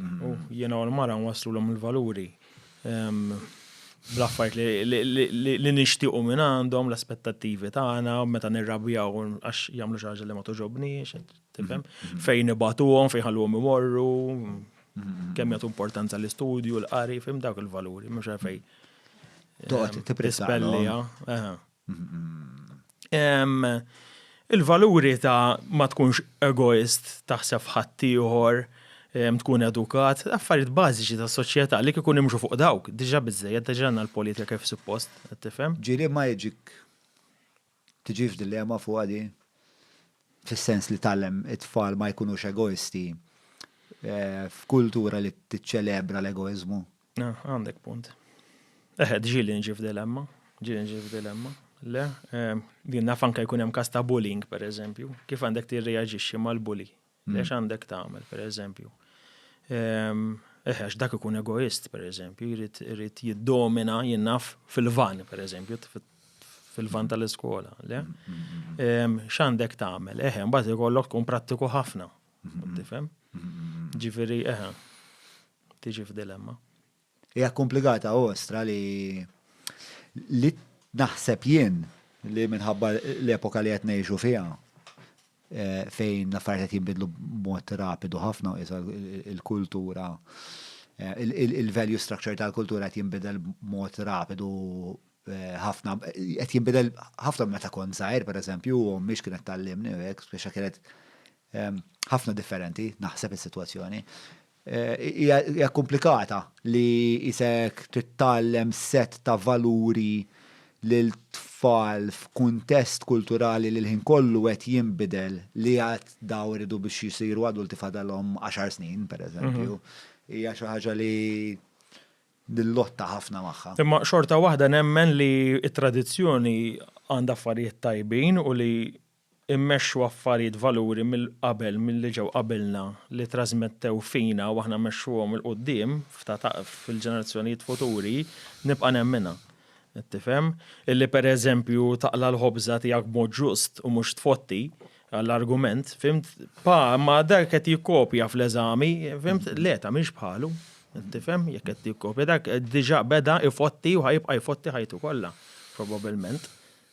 U jiena u l-mara nwaslulhom il-valuri bl-affajt li nixtiequ minn għandhom l-aspettattivi tagħna meta nirrabjaw għax jagħmlu xi ħaġa li ma toġobniex, tifhem? Mm-hmm. Fejn ibatuhom, fejn ħalluhom imorru, mm-hmm. kemm jagħtu importanza l-istudju, l-qari, fim dawk il-valuri, mhux fejn. Toqgħod tippressja. Il-valuri ta' ma tkunx egoist, taħseb f'ħaddieħor, tkun edukat, affarijiet bażiċi ta' soċjetà li kieku nimxu fuq dawk, diġà biżżejjed, diġà għandna l-politika kif suppost, qed tifhem? Ġieli ma jiġik, tiġix f'dilema fuqha di? Fis-sens li tgħallem it-tfal ma jkunux egoisti f'kultura li tiċċelebra l-egoiżmu? Ah, għandek punt. Eħe, ġili nġi f'dilemma, ġili nġi f'dilemma. Le, ehm, din naf anka jkun hemm kas ta' bullying, per eżempju, kif għandek tirreaġixxi mal-bully? Mm. Lex għandek tagħmel, per eżempju. Ehm, eħe, dak ikun egoist, per eżempju, jrid jiddomina jinnaf fil-van, per eżempju, fil-van tal-iskola, le? Ehm, x'għandek tagħmel? Eħe, mbagħad ikollok tkun prattiku ħafna. Tifhem? Ġifieri, eħe. tiġi f'dilemma. Hija komplikata u ostra li li naħseb jien li minħabba l-epoka li qed ngħixu fiha eh, fejn l-affarijiet qed jinbidlu b'mod rapidu ħafna u il-kultura eh, il-value structure tal-kultura qed jinbidel b'mod rapidu eh, ħafna qed jinbidel ħafna meta kont żgħir pereżempju u mhix kienet tallimni hekk speċa kienet ħafna differenti naħseb is-sitwazzjoni. Hija komplikata li isek trid tgħallem sett ta' valuri lil tfal f'kuntest kulturali li l-ħin kollu qed jinbidel li għad dawn iridu biex jsiru adulti fadalhom għaxar snin, pereżempju, hija xi ħaġa li nillotta ħafna magħha. Imma xorta waħda nemmen li t-tradizzjoni għandha affarijiet tajbin u li immexxu affarijiet valuri mill-qabel milli ġew qabilna li trażmettew fina u aħna mmexxuhom 'il quddiem fil-ġenerazzjonijiet futuri, nibqa' nemminha. Tifhem? Illi pereżempju taqla' l-ħobża tiegħek b'mod ġust u mhux tfotti għall-argument, fhimt? Pa, imma dak qed jikkopja fl-eżami, fhimt? Le, tagħmilx bħalu. Tifhem? Jekk qed jikkopja, dak diġà beda jfotti u ħa jibqa' jfotti ħajtu kollha, probabilment.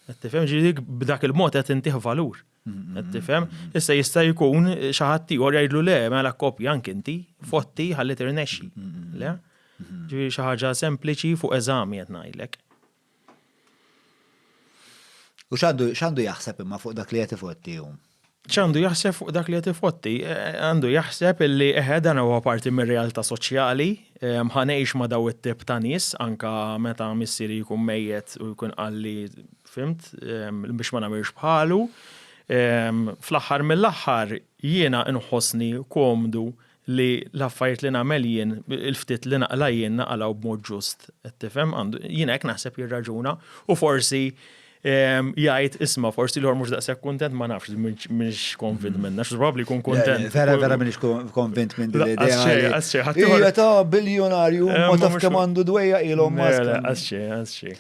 Qed tifhem ġieli b'dak il-mod qed intih valur. Qed tifhem? Issa jista' jkun xi ħadd ieħor jgħidlu le, mela kopja anke inti, fotti ħalli tirnexxi. Le? Ġifieri xi ħaġa sempliċi fuq eżami qed ngħidlek. U x'għandu jaħseb imma fuq dak li qed ifotti hu? X'għandu jaħseb fuq dak li qed ifotti? Għandu jaħseb illi eħe dan huwa parti mir-realtà soċjali, ħa ngħix ma' daw it-tip ta' nies anke meta missieri jkun mejjet u jkun qal li fhimt biex ma nagħmilx bħalu. Fl-aħħar mill-aħħar jiena nħossni komdu li l-affarijiet li nagħmel jien, il-ftit li naqla jien naqalaw b'mod ġust, qed tifhem, jien hekk naħseb jirraġuna u forsi ehm, jgħid isma' forsi l mhux daqshekk kuntent ma nafx mhux konvint minna, xi probabbli jkun kuntent. Vera vera m'iniex konvint minn din l-idea. Għasxej, għasxej. ta' biljonarju eh, ma taf kemm għandu dwejja ilhom ma. Għasxej, għasxej.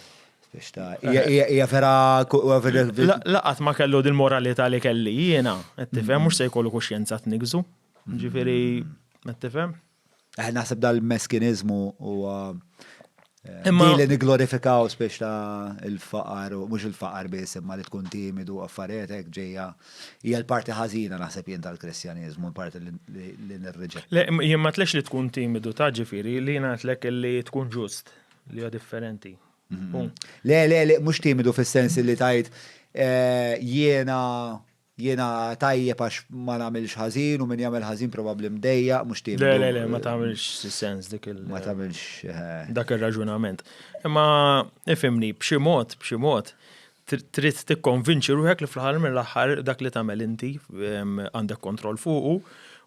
Ija vera Laqat ma kellu dil-moralità li kelli jiena, qed tifhem mhux se jkollu kuxjenza tnigżu. Ġifiri, qed tifhem? Eh, naħseb dal-meskinizmu huwa eh, Imma li niglorifikaw spiex ta' il-faqar u mhux il-faqar biss imma li tkun timidu affarijiet hekk ġejja hija l-parti ħażina naħseb jien tal-Kristjaniżmu, l-parti li nirriġa. Le, jien ma tlex li tkun timidu ta' ġifieri li ngħidlek li tkun ġust li huwa differenti. Mhm. Le, le, le, mhux timidu fis-sens li tajt eh, jiena Jiena tajjeb għax ma nagħmilx ħażin u min jagħmel ħażin probabbli mdejjaq mhux tim. Le, le, le, ma tagħmilx sens dik il. Ma tagħmilx. Eh. Dak ir-raġunament. Imma ifimni b'xi mod, b'xi mod trid tikkonvinċi ruħek li fl-ħar mill-aħħar dak li tagħmel inti għandek kontroll fuqu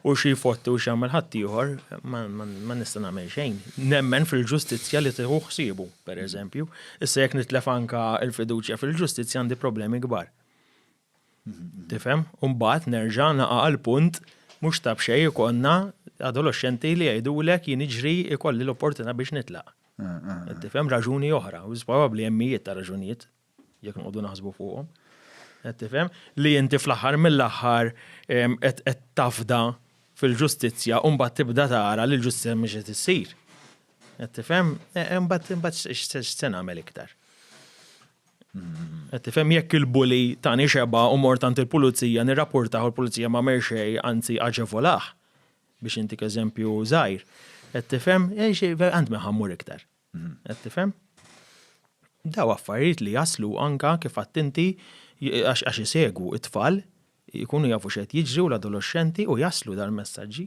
u xi fotti u x'jagħmel ħadd ieħor ma nista' nagħmel xejn. Nemmen fil-ġustizzja li tieħu ħsiebu, pereżempju, issa jekk nitlef anka l-fiduċja fil-ġustizzja għandi problemi kbar. Tifhem? U mbagħad nerġa' naqa' għall-punt mhux ta' b'xejn ikollna adoloxxenti li jgħidulek jien iġri ikolli l-opportunità biex nitlaq. Tifhem raġuni oħra, u probabbli hemm mijiet ta' raġunijiet jekk nqogħdu naħsbu fuqhom. Qed tifhem? Li inti fl-aħħar mill-aħħar qed tafda fil-ġustizzja u mbagħad tibda tara li l-ġustizzja mhix qed issir. Qed tifhem? Imbagħad x'se nagħmel iktar? Qed tifhem jekk il-bully tani xebgħa u mort għand il-pulizija nirrapportah u l-pulizija m'għamel xejn anzi aġevolah biex intik eżempju żgħir. Qed tifhem? Għand min ħammur iktar. Qed tifhem? Daw affarijiet li jaslu anka kif għadt inti għax isegwu it-tfal Ikunu jafu x'qed jiġri u l-adoloxxenti u jaslu dal-messaġġi.